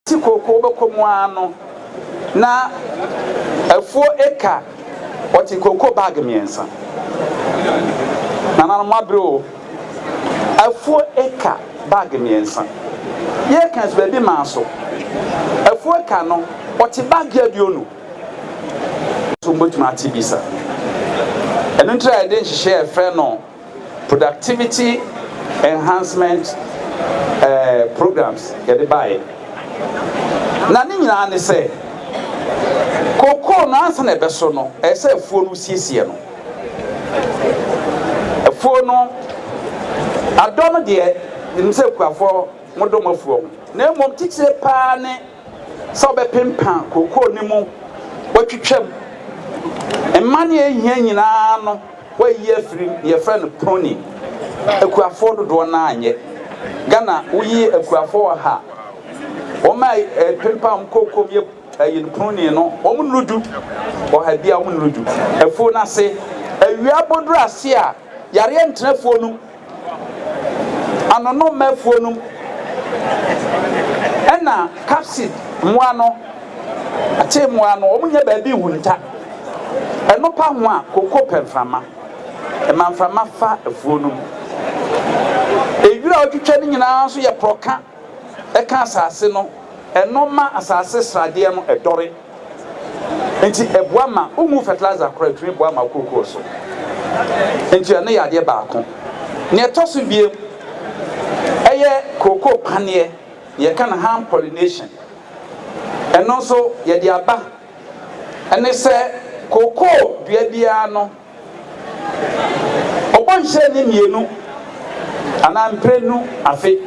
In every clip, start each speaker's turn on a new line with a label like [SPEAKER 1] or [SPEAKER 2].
[SPEAKER 1] ti kookoo bɛkɔ mu ara no na afuo eka ɔte kookoo baage mmiɛnsa nananom abere o afuo eka baage mmiɛnsa yɛka nso baabi maa so afuo eka no ɔte baage aduonu nso wobɛtumi ate bi sa. Ɛno nti na yɛde nhyehyɛɛ yɛfrɛ no productivity enhancement eh, programs yɛde baeɛ. Na ne nyinaa ne sɛ kokoo no ansa na ɛbɛso no ɛyɛ sɛ afuo no wosiesie no. Afuo no adɔ no deɛ nim sɛ akuafoɔ modɔ mo afuo ho na mmom titire paa ne sɛ ɔbɛpempa kookoo no mu, watwitwa mu, mma nea ehia nyinaa no wayi afiri mu, yɛfrɛ no proning. Akuafoɔ dodoɔ no ara nyɛ. Ghana woyi akuafoɔ ɔha, wɔn a ɛpempa wɔn kookoo mu yɛ ɛyi no proning no, wɔn nnuru du. Ɔha biara wɔn nnuru du. Afuo no ase, awia abɔduru ase a, yareɛ ntena afuo no mu. Anonomma afuo nom ɛna capsid mmoa no akyee mmoa no wɔn nyɛ baabi nhunta ɛnopa ho a koko pɛ mframa ɛma mframa fa afuo nom ewira a ɔtwitwa no nyinaa nso yɛ prɔka ɛka asase no ɛno ma asase sradeɛ no ɛdɔre. Nti ɛboa ma womu fertilizer koraa ɛtumi boa ma kookoo so. Nti ɛno yɛ adeɛ baako. Neɛ ɛtɔ so biam ɛyɛ kookoo paneɛ neɛ yɛka no hand pollination. Ɛno nso yɛde aba ɛne sɛ kookoo dua biara no. Ɔbɔ nhyira nni mmienu anaa mprenu afe.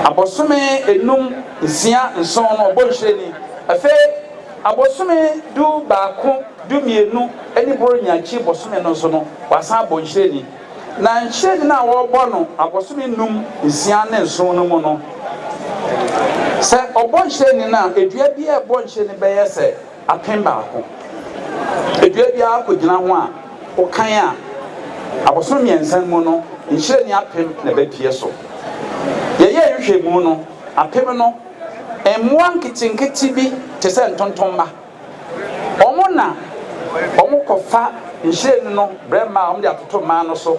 [SPEAKER 1] Abosome enum, nsia, nson no ɔbɔ nhyira ni. Afei abosome du baako, du mmienu ne Borɔnya akyi bosome no nso no wasan abɔ nhyira ni. Na nhyira ni no a ɔrebɔ no abosome nnum, nsia ne nson no mu no, sɛ ɔbɔ nhyira ni no a, dua biara a ɛbɔ nhyira ni bɛyɛ sɛ. Akan baako. Dua biara kogyina ho a, wokan a, abosome mmiɛnsa mu no, nhyirani apem na ɛbɛpue so. Yɛyɛɛ nhwehwɛmu no, apem no, mmoa nketenkete bi te sɛ ntontomma. Wɔn na wɔkɔfa nhyiren no brɛ mmaa a wɔde atoto mmaa no so.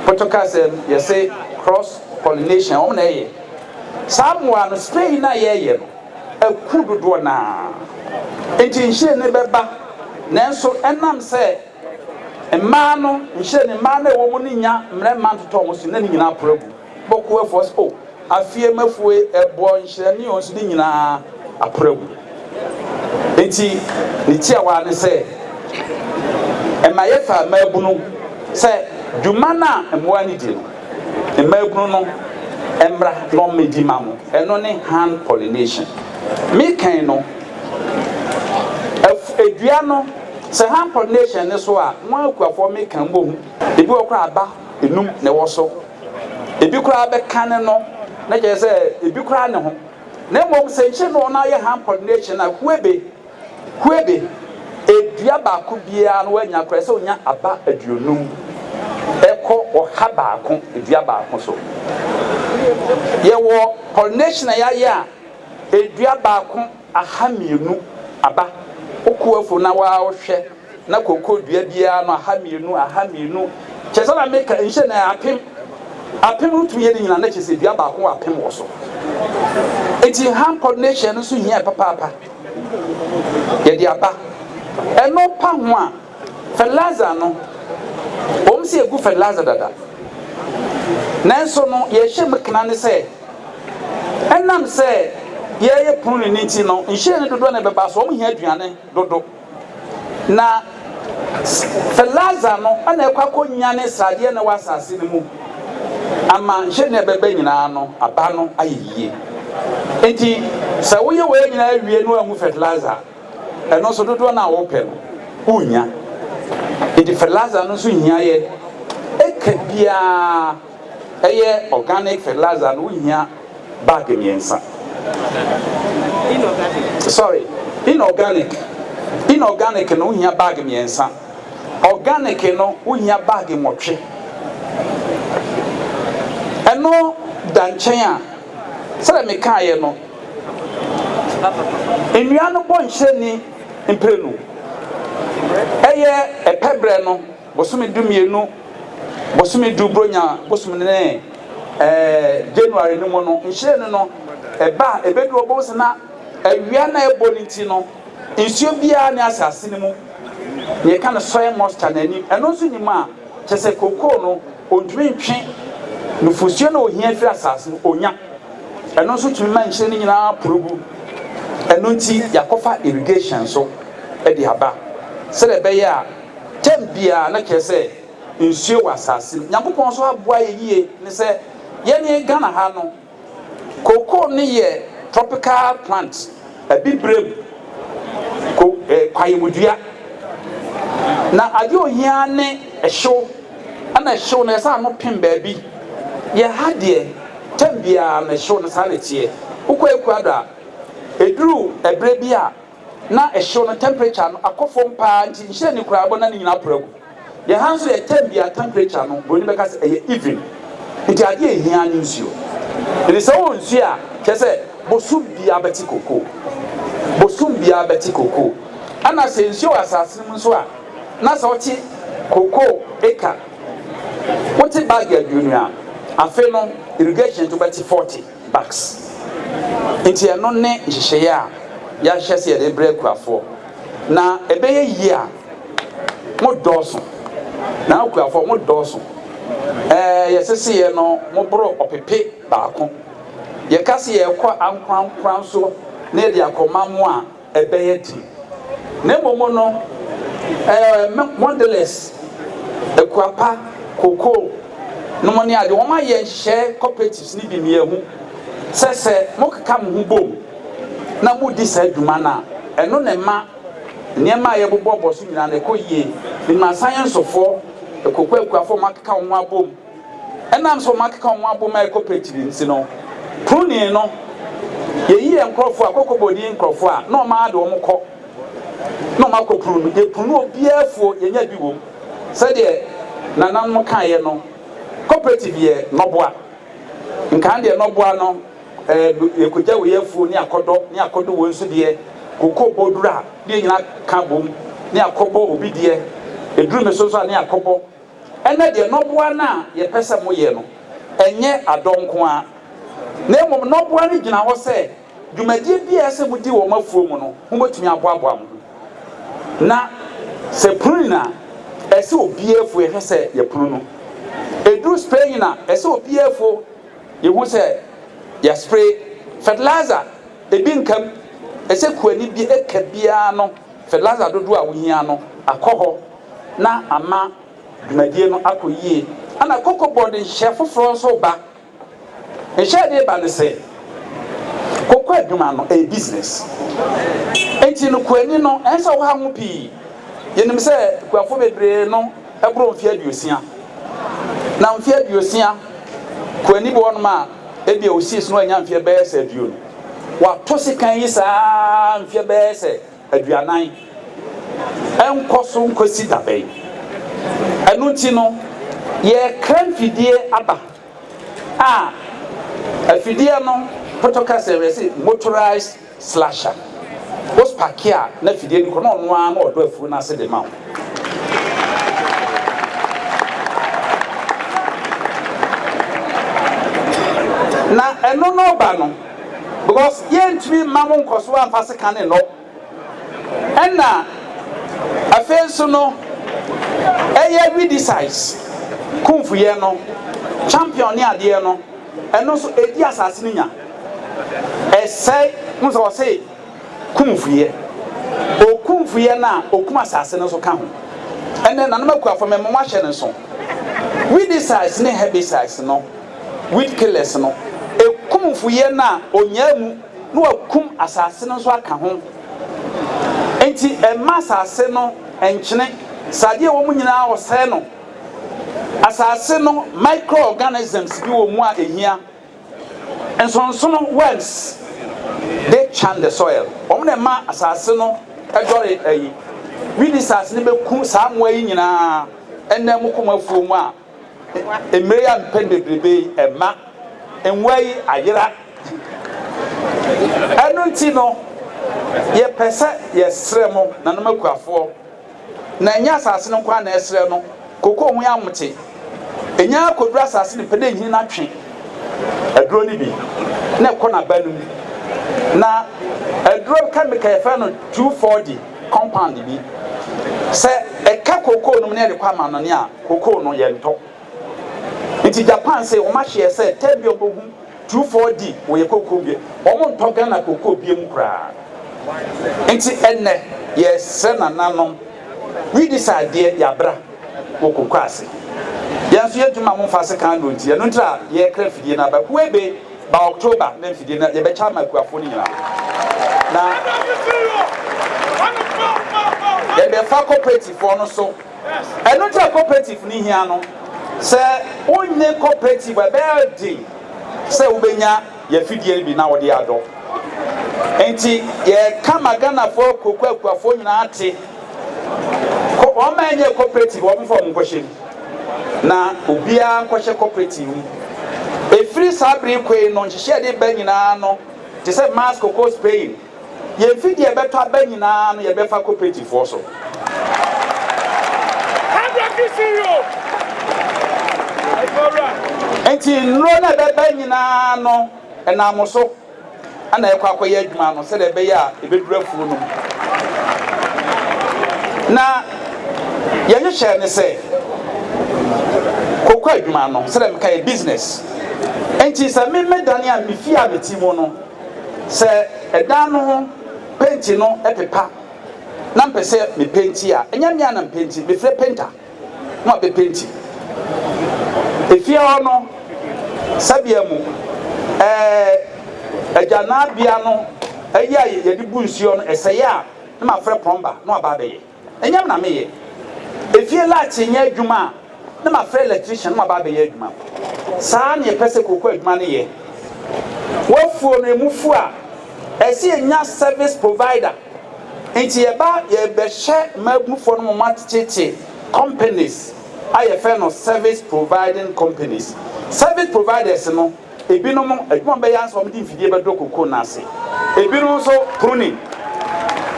[SPEAKER 1] Potokaasɛm, yɛse cross-pollination, wɔn na ɛyɛ. Saa mmoa no, spaying no a yɛyɛ no, akuw dodoɔ no ara nti nhyiren no bɛba, nanso ɛnam sɛ mmaa no, nhyiren no, mmaa no a ɛwɔ mu no nnya mmarima ntotɔɔ wɔn so, na ne nyinaa poro agu. Bɔkoo afuo sɛ, O, afie m'afuo, ɛboɔ, nhyiren ne nsu ne nyinaa aporo agu. Enti ne tiawa ne sɛ, ɛma yɛfa mmaabunu sɛ dwuma no a mmoa no di no, Mmaabunu no mmra na wɔmmɛdi mma mo. Ɛno ne hand pollination. Me kan no, af dua no, sɛ hand pollination no so a, mo akuafoɔ me kan mmɔ hu. Ebi wɔ koraa aba nnum na ɛwɔ so. Ebi koraa bɛ ka ne no, na kyerɛ sɛ ebi koraa ne ho. Na mmom sɛ nkyere no wɔn ayɛ hand pollination a, kuebe. Hue de, dua baako biara no wanya koraa sɛ onya aba aduonum kɔ ɔha baako dua baako so. Yɛwɔ pollination a yɛayɛ a dua baako aha mmienu aba. Wokɔ afuw no na wohwɛ. Na kooko dua biara ano aha mmienu, aha mmienu, kyerɛ sɛ na meka nhyɛ na apem, apem no tumi yɛ ne nyinaa na kyerɛ sɛ dua baako wɔ apem wɔ so. Eti hand coordination no nso hia papaapa. Yɛde aba ɛno pa ho a, fertilizer no, wɔn sɛ egu fertilizer dada, nanso no yɛhyɛ mu kena ne sɛ ɛnam sɛ yɛyɛ pruning ne nti no, nhyɛn no dodoɔ na ɛbɛba so, wɔn hia aduane dodo. Na Laser no na ɛkɔ akɔnyane sradeɛ a na ɛwɔ asase no mu ama hwɛ nea ɛbɛba nyinaa no aba no ayɛ yie. Enti sɛ woyɛ wei nyinaa wie no angu fertilizer a, ɛno nso dodoɔ no a wopɛ no wonnya. Enti fertilizer no nso hia yɛ eka biara. Ɛyɛ organic fertilizer no wohia bag mmiɛnsa. Inorganic. Sorry, inorganic. Inorganic no wohia bag mmiɛnsa. Organic no wohia bag nwɔtwe. Ɛno da nkyɛn a, sɛdeɛ mekaeɛ no, nnua no bɔ nhyira nni mprenu. Ɛyɛ ɛpɛ berɛ no. Bosome du mmienu, bosome du Buronya bosom no ne ɛɛ January no mu no, nhyiren no ba a, ɛbɛduru hɔ, bohu sɛ na awia no a ɛbɔ no nti no, nsuo biara nni asase no mu. Deɛ ɛka no soil moisture no anim, ɛno nso nnim a, kyerɛ sɛ kokoo no, ɔntumi ntwe nufosuo no a ɔhia firi asase no, ɔnya. Ɛno nso tumi ma nhyiren no nyinaa poro gu. Ɛno nti, yɛakɔfa irrigation nso de aba sɛdeɛ ɛbɛyɛ a, Term biara na kyerɛ sɛ nsuo wɔ asase no. Nyankopɔn nso aboa yɛ yie ne sɛ yɛne Ghana ha no cocoa no yɛ tropical plant, abibirem ko eh, kwaeɛmudua. Na adeɛ ohia ne ɛhyew, ɛna ɛhyew no ɛsɛ ano pem baabi. Yɛ ha deɛ term biara no ɛhyew no saa na ɛteɛ. Wokɔ Ecuador a, ɛduru ɛberɛ bi a, na hyew no temperature no akɔ fam paa nti nhyiren ne koraa ɛbɔnan no nyinaa poro agu. Yɛn ha nso yɛ term bi a temperature no buroni bɛka sɛ ɛyɛ even nti adeɛ a ɛhia ara ne nsuo. Nti sɛ wowɔ nsuo a kyerɛ sɛ bosom biara bɛte kokoo. Bosom biara bɛte kokoo. Ɛna sɛ nsuo wɔ asase no mu nso a na sɛ wote kokoo acre, wote bag aduonu a afei no irrigation nti wobɛte 40. Acts. Enti ɛno ne nhyehyɛeɛ a yɛahyehyɛ sɛ yɛde brɛ akuafoɔ. Na ɛbɛyɛ yie a mo dɔɔso. Na akuafoɔ mo dɔɔso. Ɛɛ yɛseseeɛ no mo boro ɔpepe baako. Yɛka sɛ yɛrekɔ ankorankora nso na yɛde akɔma mo a ɛbɛyɛ den. Na mmom no, ɛɛ, Mondelez, Akuapa, Cocoa nom ne ade, wɔayɛ nhyehyɛe, cooperatives no bi, mmiahu, sɛ sɛ mokeka mo ho bom na modi saa dwuma no a, ɛno na ɛma nneɛma a yɛbobɔ bɔ so nyinaa no, ɛkɔ yie. Menim Asan Yensofoɔ, Cocoa akuafoɔ a wɔakeka wɔn ho abom. Ɛnam sɛ wɔakeka wɔn abom a ɛkɔ pɛkyiri nti no, Pronii no, yɛyi yɛn nkurɔfoɔ a, kɔkɔbɔ ni nkurɔfoɔ a, na wɔn ara de wɔn kɔ, na wɔakɔ punu no. Yɛpunu no obiara afuo, yɛnya bi wom. Sɛdeɛ nananom kaeɛ no, cooperative yɛ nɔboa. Nkan deɛ nɔboa no, ɛɛ, yɛkɔgya wei afuo ne akɔdɔ, ne akɔdɔ wei nso deɛ, cocoa bɔ duru a, ne yɛn nyinaa ka bom, ne yɛakɔbɔ obi deɛ, ɛduru me so nso a, ne yɛakɔbɔ. Ɛnnɛ deɛ, nnɔboa no a yɛpɛ sɛ moyɛ no, ɛnyɛ adɔ nko ara, na mmom nnɔboa no gyina hɔ sɛ dwumadie biara a ɛsɛ sɛ modi wɔ mo afuo mu no, mobɛtumi aboaboa mo ho. Na sɛ punin a, ɛsɛ obiara afuo yɛhwɛ sɛ yɛpono no. Ɛduru spraying a, ɛsɛ obiara afuo yɛhu sɛ yɛspray. Fertilizer, ɛbi nka mu, ɛsɛ kuani bi, eka biara no, fertilizer dodoɔ a wohia no, akɔ hɔ. na ama dwumadie no akɔ yie. Ɛna Koko Board nhyɛ foforɔ nso reba. Nhyɛ a ɛde reba ne sɛ, koko adwuma no ɛyɛ business. Enti no kuani no ɛnsɛ sɛ ɔha ho pii. Yɛnim sɛ kuafoɔ bebree no boro mfeɛ aduosia. Na mfeɛ aduosia, kuani bi wɔ hɔnom a ebia ɔsies no wanya mfeɛ bɛyɛ sɛ aduonu. Wato sekan yi saa ara mfeɛ bɛyɛ sɛ aduanan nkɔ so nkosi da bɛn? Ɛno nti no, yɛrekra mfidie aba a afidie no potoka sɛ yɛse motorized slasher. Wo spake a na afidie no kɔ na ɔno ara na ɔdɔ afuo no ase de ma wo. Na ɛno no ba no, because yɛntumi mma mo nkɔso amfa sekan ne nnɔ ɛna afei nso no ɛyɛ redesize kumfuyɛ no champion ne adeɛ no ɛno nso ɛdi asase no nya ɛsɛe mo sɛ ɔse kumfuyɛ okumfuyɛ no a okum asase no nso ka ho ɛnɛ nanom akuafo mɛmɔ mo ahyɛ no nso redesize ne herbicides no Weed killers no, ɛku mfuiɛ no a ɔnyaa mu na wakum asase no nso aka ho. Enti ɛmma asase no nkyene, sɛ adeɛ a ɛwɔ mu nyinaa ɔsɛe no. Asase no microorganisms bi wɔ mu a ɛhia, nsonsono, worms, they churn the soil, wɔn na ɛma asase no dɔre ayi. Weedicides no bɛku saa mmoa yi nyinaa, ɛnna ɛmoko mo afuo mu a. Mmerɛ yi a mpɛn bebrebe yi ɛma nwoa yi ayera. Ɛno nti no yɛpɛ sɛ yɛsrɛ mo nanom akuafoɔ na ɛnyɛ asase no nko ara na ɛsrɛ no koko ho amote ɛnya kɔduru asase no pɛ na ɛnyini na twe aduro no bi na ɛkɔ n'aba no mu na aduro kɛmika yɛfrɛ no 2,4-D compound bi. Sɛ ɛka cocoa no mu na yɛde kɔ amannɔne a, cocoa no, yɛntɔ. Nti Japan se wɔn ahyeɛ sɛ tɛ bia wɔbɛhu two four di wɔyɛ cocoa bia, wɔn ntɔ Ghana cocoa bia mu koraa. Nti ɛnnɛ yɛresrɛ nananom, we disa adeɛ yɛabra wɔ cocoa ase. Yɛn nso yɛntumi ma mo mfa asekan aduro nti ɛno ntira yɛrekra afidie no aba Kuebe. Ba October na mfidie no yɛbɛkyɛ ama akuafoɔ no nyinaa na yɛde fa cooperative foɔ no so. Ɛno nti a cooperative no hia no, sɛ wonnye cooperative a ɛbɛyɛ den sɛ wobɛnya yɛafidie no bi na wɔde adɔ. Nti yɛka ma Ghanafoɔ akuokuo akuafoɔ nyinaa te, wɔn ma ɛnyɛ cooperative wɔmfa wɔn nkɔhyɛ mu. Na obiara nkɔhyɛ cooperative mu. Ɛfiri saa bere kɔ yi no, nhyehyɛɛ de ba nyinaa no, te sɛ Mars Koko Spain, yɛn fi deɛ ɛbɛtɔ aba nyinaa no yɛbɛfa cooperative foɔ so. Enti nnuro no a ɛbɛba nyinaa no, ɛnam mo so. na ɛrekɔ akɔyɛ adwuma no sɛdeɛ ɛbɛyɛ a ɛbɛduru afuo no mu. Na yɛhyehyɛɛ ne sɛ kɔkɔ adwuma no sɛdeɛ meka yɛ business nti sɛ me medane a mefie a meti mu no sɛ ɛdan no ho penti no ɛpepa na mpɛ sɛ mepenti a ɛnyɛ me a na mpenti mefrɛ penta ho a bɛpenti. Efie hɔ no, sɛbea mu, ɛɛ, agyananbea no, ayi a yɛde bu nsuo no, ɛsɛe a, na mafrɛ prɔmba na waba abɛyɛ. Ɛnyɛ me na meyɛ. Efie lakye nyɛ adwuma a, na mafrɛ electrician na waba abɛyɛ adwuma. Saa na yɛpɛ sɛ kooko adwuma no yɛ. W'afuo no, ɛmu fu a, ɛsɛ yɛnya service provider. Ntsi yɛba yɛbɛhyɛ mmabufoɔ no moma tete companies a yɛfɛ no service providing companies. Service providers no ebinom adwuma wɔbɛyɛ ara ne sɛ wɔde mfidie bɛdɔ cocoa no ase. Ebinom nso pruning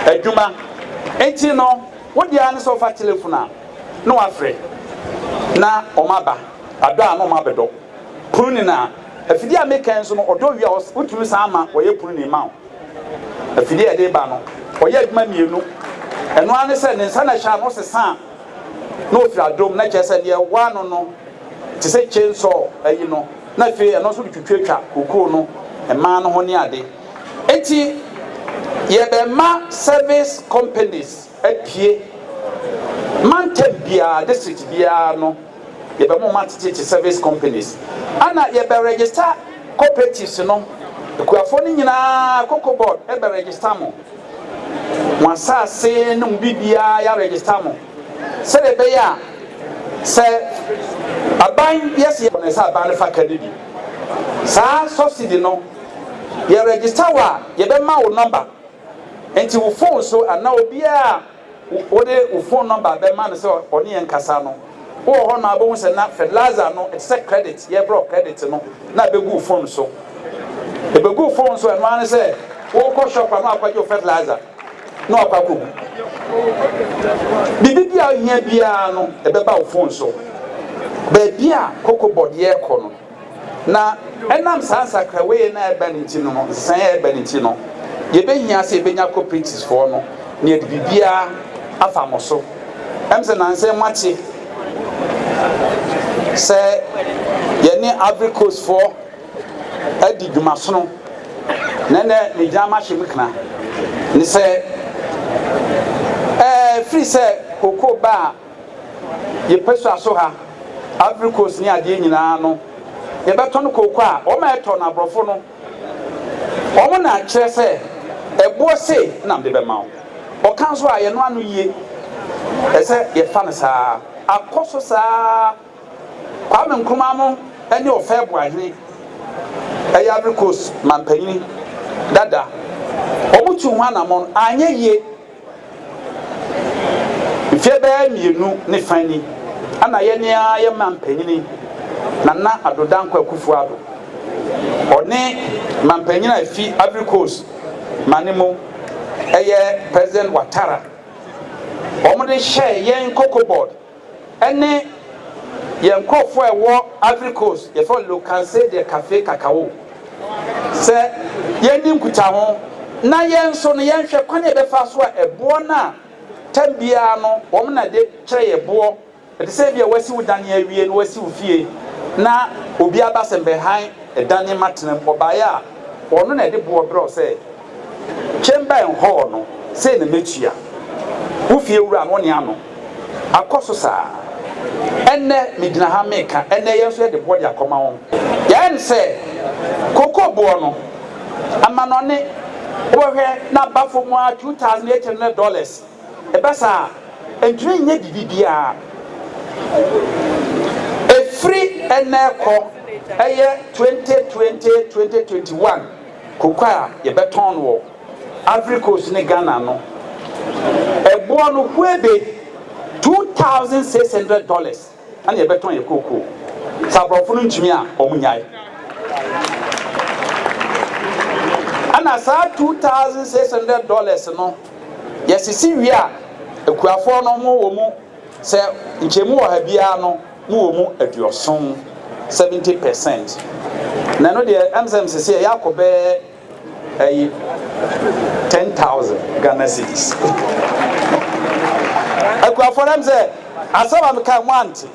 [SPEAKER 1] adwuma. Ntsi no wode ara ne sɛ wofa telefon a na wafrɛ na wɔn aba. Adɔ a na wɔn abɛdɔ pruning a afidie a meka yi nso no ɔdɔ wie a wotumi san ma wɔyɛ pruning ma wo. Afidie a ɛde reba no, ɔyɛɛ adwuma mmienu. Ɛno ara ne sɛ, ne nsa na ɛhyɛ ano sesa a, na ɔfiri adom. Na kyerɛ sɛ, deɛ ɛwɔ ano no te sɛ chainsaw ayi no, na afei ɛno nso de twitwatwa kokoo no, mmaa no ho ne ade. Enti yɛbɛma service companies apue mantam biara, district biara no. Yɛbɛma ɔmo atetetete service companies ɛna yɛbɛ register cooperatives no, akuafoɔ no nyinaa cocoa board bɛ register mo, mo asaase ne mo biribiara yɛ register mo sɛdeɛ ɛbɛyɛ a sɛ aban yɛ sɛ yɛ sɛ aban no fa ka no bi saa subsidy no yɛ register wo a yɛbɛma wo number nti wo phone so anaa obiara Wode wo fon nɔmba bɛma no sɛ ɔne yɛn nkasa no, wowɔ hɔ no a wobɛhu sɛ na fertilizer no, ɛte sɛ credit, yɛfrɛ no credit no, na ɛbɛgu wo fon so. Ɛbɛgu wo fon so, ɛno ara ne sɛ worekɔ shop a na wakɔgye wo fertilizer na wakɔ akɔgu. Biribi bi a wohia biara no, ɛbɛba wo fon so. Baabi a Cocobod yɛrekɔ no, Na ɛnam saa nsakrawee no a ɛreba no nti no, nsesaeɛ a ɛreba no nti no, yɛbɛhia sɛ yɛbɛnya cooperativefoɔ no na yɛde biribiara afa mo so. Ɛm sɛ nansa yi moakye sɛ yɛne Ivory Coastfoɔ adi dwumasono, na ɛnɛ megyina mahyɛ mu kena ne sɛ ɛɛ firi sɛ kokoo ba a Yɛpɛ sua so ha, Ivory Coast ne adeɛ nyinaa no yɛbɛtɔn kooko a wɔn a ɛtɔ no aborɔfo no wɔn na kyerɛ sɛ ɛboɔ sei na mede bɛma wo. Ɔka nso a yɛnoa no yie, ɛsɛ yɛfa no saa. Akɔ so saa Kwame Nkrumah no ne Ɔfɛɛ Boahene ɛyɛ Ivory Coast mampanyini dada wɔn tu ho anamɔn anyɛ yie. Mfeɛ bɛyɛ mmienu ne fa ni na yɛn ara yɛn mampanin, Nana Addo Dankwa Akuffo Addo, ɔne mampanin a ɛfi Ivory Coast ma no mu, ɛyɛ President Ouattara, wɔde hyɛɛ yɛn koko board. Ɛne yɛn nkorɔfoɔ a ɛwɔ Ivory Coast yɛfrɛ wɔn Le Cancer de Cafe Cacao sɛ yɛndi nkutaho na yɛn nso no yɛnhwɛ kwan a yɛbɛfa so a ɛboɔ no a tam biara no wɔn na de kyerɛ yɛn boɔ ɛte sɛ ebia wasi wo dan awie na wasi wo fie na obi aba sɛ mbɛhan dan yi ma tena mu ɔbaeɛ a ɔno na ɛde boɔ brɛ wo sɛ Chamber and hall no sei na mɛtua. Wo fie wura no ne ano akɔ so saa. Ɛnnɛ megyina ha meka, ɛnnɛ yɛn nso yɛde boɔ de akɔma wɔn. Yɛn sɛ cocoa boɔ no, amanɔne, wobɛhwɛ na aba fam ara two thousand eight hundred dollars. Ɛba saa a, ɛntumi nyɛ biribi biara. Ɛfiri ɛnnɛ rekɔ ɛyɛ twenty twenty, twenty twenty one. Koko a yɛbɛtɔn no wɔ Ivory Coast ne Ghana no, ɛboɔ no hue be two thousand six hundred dollars ɛna yɛbɛtɔn yɛ kookoo. Sɛ aborɔfo no ntumi a, wɔn nyae. Ɛna saa two thousand six hundred dollars no, yɛsisi wie a, akuafoɔ no wɔn wɔ mu Sɛ nkyɛmu ɔha biara no mo wɔ mu aduɔson, seventy per cent, na ɛno deɛ ɛm sɛ msese ɛyɛ akɔ bɛɛ ɛyi ten thousand Ghana cedis. Akuafoɔ no ɛm sɛ asɛm a meka mo ante.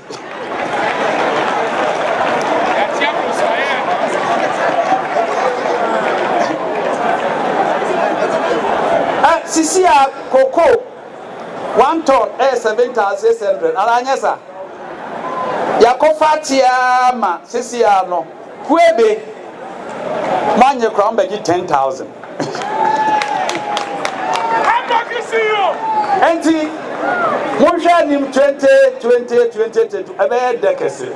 [SPEAKER 1] Sisi a koko. One ton yɛ seven thousand six hundred anaa anyɛ sa? Yɛakɔ fa ateɛ ara ma sisi ara no kuebe mo anye koraa mo bɛ gye ten thousand. Enti mo nhwɛ anim twenty twenty twenty twenty ɛbɛyɛ dɛ kɛse.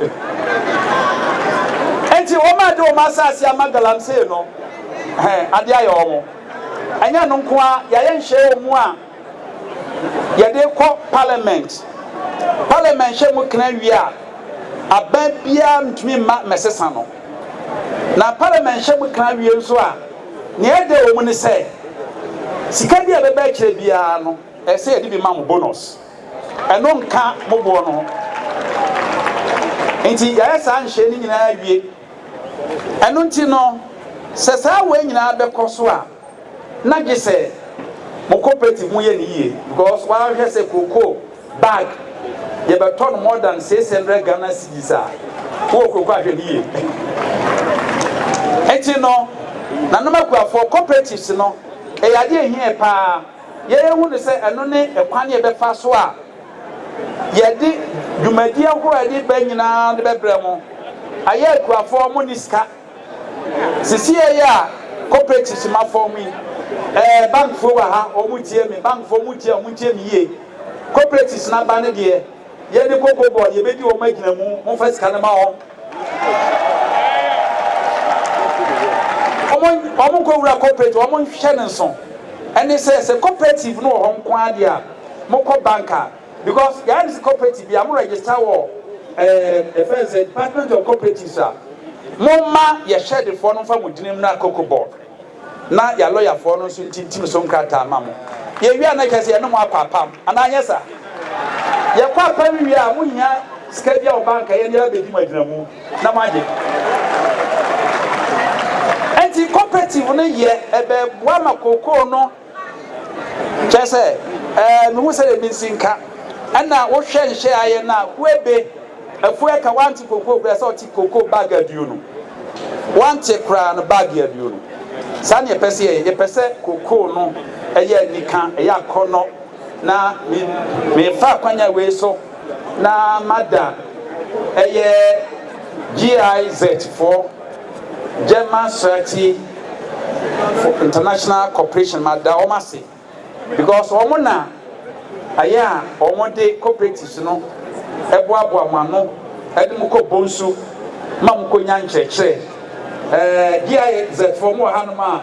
[SPEAKER 1] Enti wɔn a de wɔn asase ama galamsey no, hɛn ade ayɛ wɔn. Ɛnyɛ ɛno nko ara, yɛayɛ nhyehyɛe wɔ mu a yɛde rekɔ Parliament. Parliament hyɛ mu kena wie a, aban biara ntumi mma mmɛsesa no. Na Parliament hyɛ mu kena wie nso a, nea ɛdɛ wɔ mu ne sɛ, sika bi a ɛbɛba akyire biara no, ɛsɛ sɛ yɛde bi ma mo, bonus. Ɛno nka mo boɔ no ho. Enti yɛayɛ saa nhyehyɛe no nyinaa awie. Ɛno nti no, sɛ saa wei nyinaa bɛkɔ so a, na gye sɛ mo cooperative mo yɛ no yie because w'ahwɛ sɛ cocoa bag yɛ bɛ tɔ no more than six hundred Ghana cedis a, wo wɔ cocoa ahwɛ no yie. Ɛnti no, nanom akuafoɔ cooperatives no, ɛyɛ adeɛ ɛhia yɛ paa, yɛyɛ hu no sɛ ɛno ne ɛkwan yɛ bɛ fa so a, Yɛde dwumadie ahoroɔ a yɛde ba nyinaa de bɛbrɛ mo. Ayɛ akuafoɔ a monni sika. Sisiiɛ yi a cooperatives ma fam yi, ɛɛ bankfoɔ wɔ ha, wɔn tie me, bankfoɔ mo tie a, wɔn tie me yie. Cooperatives no aba no deɛ, yɛne koko bɔ, yɛbɛdi wɔn agyinamu, momfa sika no ma wɔn. wɔn wɔn nkɔwura cooperative wɔn nhwɛ ne nso ɛne sɛ sɛ cooperative no wɔ hɔ nko ara deɛ a mokɔ bank a because yɛayɛ ne sɛ cooperative bi a mo register wɔ ɛɛ ɛfɛn sɛ department of cooperatives a mo ma yɛhyɛ defoɔ no nfa mo gyina mu na koko board. na y'alɔyafoɔ no nso ntintim so nkrataa ma mo. Yɛwie a na kyerɛ sɛ yɛne mo akɔ apam, anaa anyɛ saa? Yɛkɔ apam wie a, mohia sika bi a wɔ bank a yɛne yɛn abɛdi mo agyinamu na moagye. Ɛnti cooperative no yɛ ɛbɛboa ma kokoo no. Kyerɛ sɛ, ɛɛ, mehu sɛdeɛ me nsi nka. Ɛna wohwɛ nhwɛ a yɛ no a, kuebe, afuo ɛka, wante kokoo koraa, sɛ ɔte kokoo bag aduonu, wante koraa no bag aduonu. Saa na yɛpɛ sɛ yɛyɛ, yɛpɛ sɛ kokoo no ɛyɛ anika, ɛyɛ akɔnnɔ, na me, mefa akwanya wei so na mada ɛyɛ GIZ foɔ, German srati for international cooperation mada wɔn ase because wɔn na ayɛ a wɔn de cooperatives no ɛboaboa mo ano ɛde mo kɔ bonsu ma mo kɔ nya nkyerɛkyerɛ ɛɛ GIZ fo wɔn wɔ hanom a